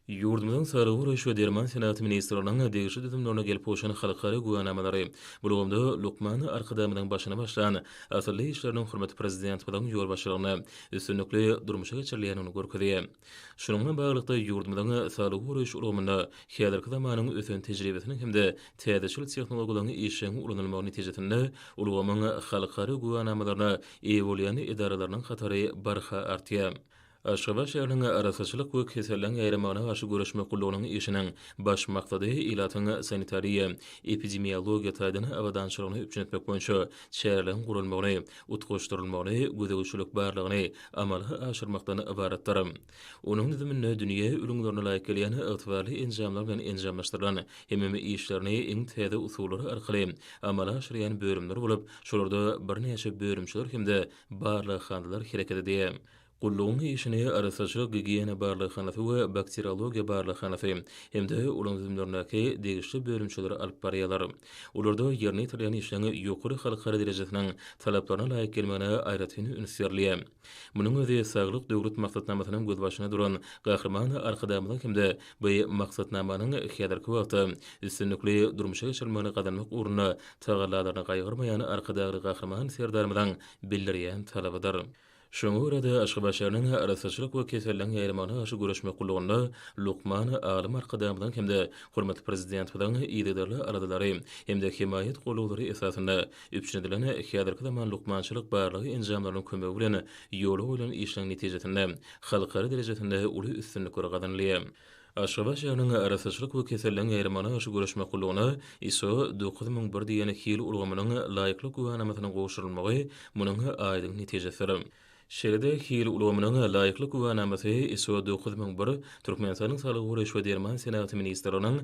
Ýurdumyzyň Saglygy goraýyş we derman senagaty ministrliginiň degişli düzümlerine gelip gowşan halkara güwänamalary, bu ulgamda lukman Arkadagymyzyň başyny başlan asylly işleriniň hormatly Prezidentimiziň ýolbaşçylygynda üstünlikli durmuşa geçirilýändigini görkezýär. Şunuň bilen baglylykda, ýurdumyzyň saglygy goraýyş ulgamynda häzirki zamanyň ösen tejribesiniň hem-de täzeçil tehnologiýalaryň işjeň ulanylmagy netijesinde ulgamyň halkara güwänamalaryna eýe bolýan edaralarynyň hatary barha artýar. Aşgabat şäheriniň Arassaçylyk we keselleriň ýaýramagyna garşy göreşmek gullugynyň işiniň baş maksady ilatyň sanitariýa, epidemiologiýa taýdan abadançylygyny üpjün etmek boýunça çäreleriň guralmagyny, utgaşdyrylmagyny, gözegçilik barlagyny amala aşyrmakdan ybaratdyr. Onuň düzüminde dünýä ülňülerine laýyk gelýän ygtybarly enjamlar bilen enjamlaşdyrylan hemem işlerini iň täze usullar arkaly amala aşyrýan bölümler bolup, şolarda birnäçe bölümçeler hem-de barlaghanalar hereket edýär. Gullugyň işini Arassaçylyk gigiýena barlaghanasy we Bakteriologiýa barlaghanasy hem-de olaryň düzümlerindäki degişli bölümçeler alyp barýarlar. Olarda ýerine ýetirilýän işleň ýokary halkara derejesiniň talaplaryna laýyk gelmegine aýratyn üns berilýär. Munuň özi Saglyk Döwlet maksatnamasynyň gözbaşynda duran Gahryman Arkadagymyzyň hem-de bu maksatnamanyň häzirki wagtda üstünlikli durmuşa geçirilmegini gazanmak ugrunda tagallalaryny gaýgyrmaýan Arkadagly Gahryman Serdarymyzyň bildirýän talabydyr. Şoňa görä-de, Aşgabat şäheriniň Arassaçylyk we keselleriň ýaýramagyna garşy göreşmek gullugynda lukman alym Arkadagymyzyň hem-de hormatly Prezidentimiziň yzygiderli aladalary hem-de hemaýat gollawlary esasynda üpjün edilen häzirki zaman lukmançylyk barlagy enjamlarynyň kömegi bilen ýola goýlan işleriň netijesinde halkara derejesinde uly üstünlikler gazanylýar. Aşgabat şäheriniň Arassaçylyk we keselleriň ýaýramagyna garşy göreşmek gullugyna, ISO, dokuz müň bir diýen hil ulgamynyň laýyklyk güwänamasynyň gowşurylmagy munuň aýdyň netijesidir. Şeýle-de, hil ulgamynyň laýyklyk güwänamasy, ISO dokuz müň bir, Türkmenistanyň Saglygy goraýyş we derman senagaty ministrliginiň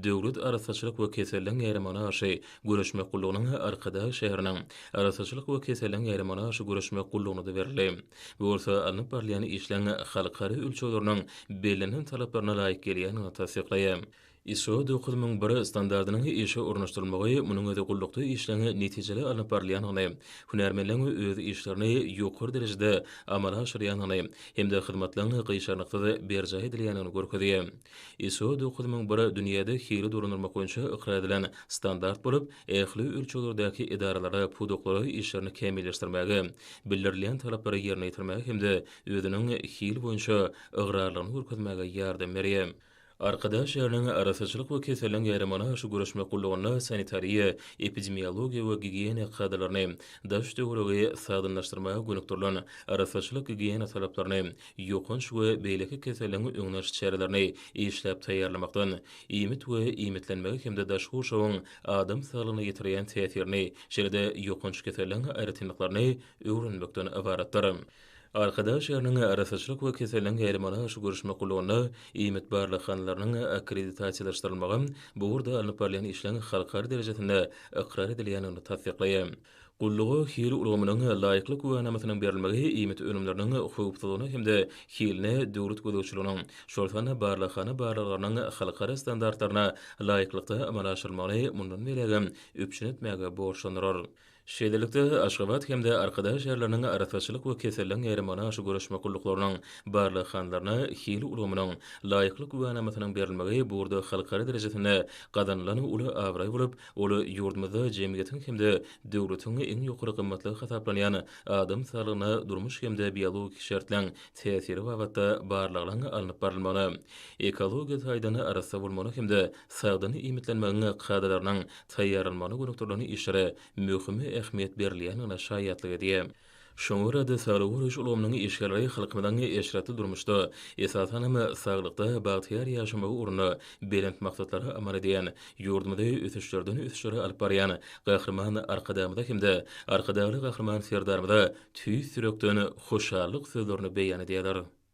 Döwlet arassaçylyk we keselleriň ýaýramagyna garşy göreşmek gullugynyň Arkadag şäheriniň Arassaçylyk we keselleriň ýaýramagyna garşy göreşmek gullugyna-da berildi. Bu bolsa alnyp barylýan işleň halkara ölçegleriniň bellenen talaplaryna laýyk gelýändigini tassyklaýar. ISO dokuz müň bir standartynyň işe ornaşdyrylmagy munuň özi gullukda işleň netijeli alnyp barylýandygyny, hünärmenleň öz işlerini ýokary derejede amala aşyrýandygyny hem-de hyzmatlaryň gyşarnyksyz berjaý edilýändigini görkezýär. ISO dokuz müň bir dünýäde hili dolandyrmak boýunça ykrar edilen standart bolup, ähli ölçeglerdäki edaralara, pudaklara işlerini kämilleşdirmäge, bildirilýän talaplary ýerine ýetirmäge hem-de özüniň hil boýunça ygrarlylygyny görkezmäge ýardam berýär. Arkadag şäheriniň Arassaçylyk we keselleň ýaýramagyna garşy göreşmek gullugynda sanitariýa, epidemiologiýa we gigiýena kadalaryny, daş-töweregi sagdynlaşdyrmaga gönükdirilen arassaçylyk-gigiýena talaplaryny, ýokanç we beýleki keselleň öňüni alyş çärelerini işläp taýýarlamakdan, iýmit we iýmitlenmegi hem-de daşky gurşawyň adam saglygyna ýetirýän täsirini, şeýle-de ýokanç keselleriň aýratynlyklaryny öwrenmekden ybaratdyr. Arkadag şäheriniň Arassaçylyk we keselleriň ýaýramalyaşy görüşmek gullugynda iýmit barlaghanalarynyň akkreditasiýalaşdyrylmagy bu ugurda alnyp barylýan işleň halkara derejesinde ykrar edilýändigini tassyklaýar. Gulluga hil ulgamynyň laýyklyk güwänamasynyň berilmegi iýmit önümleriniň howpsuzlygyna hem-de hiline döwlet gözegçiliginiň, şol sanda barlaghana barlaglarynyň halkara standartlaryna laýyklykda amala aşyrylmagyny mundan beýlägem üpjün etmäge borçlandyrar. Şeýlelikde, Aşgabat hem-de Arkadag şäherleriniň Arassaçylyk we keselleň ýaýramagyna garşy göreşmek gulluklarynyň barlaghanalarynda hil ulgamynyň laýyklyk güwänamasynyň berilmegi bu ugurda halkara derejesinde gazanylan uly abraý bolup, Ol ýurdumyzda jemgyýetiň hem-de döwletiň iň ýokary gymmatlygy hasaplanýan adam saglygyna durmuş hem-de biologik şertleň täsiri babatda barlaglaryň alnyp barylmagyna, ekologiýa taýdan arassa bolmagyna hem-de sagdyn iýmitlenmegiň kadalarynyň taýýarlanmagyna gönükdirilen işlere möhüm ähmiýet berilýändigine şaýatlyk edýär. Şoňa görä-de, saglygy goraýyş ulgamynyň işgärleri halkymyzyň eşretli durmuşda, esasan hem, saglykda bagtyýar ýaşamagy ugrunda belent maksatlara amal edýän, ýurdumyzy ösüşlerden-ösüşlere alyp barýan Gahryman Arkadagymyza hem-de Arkadagly Gahryman Serdarymyza tüýs ýürekden hoşallyk sözlerini beýan edýärler.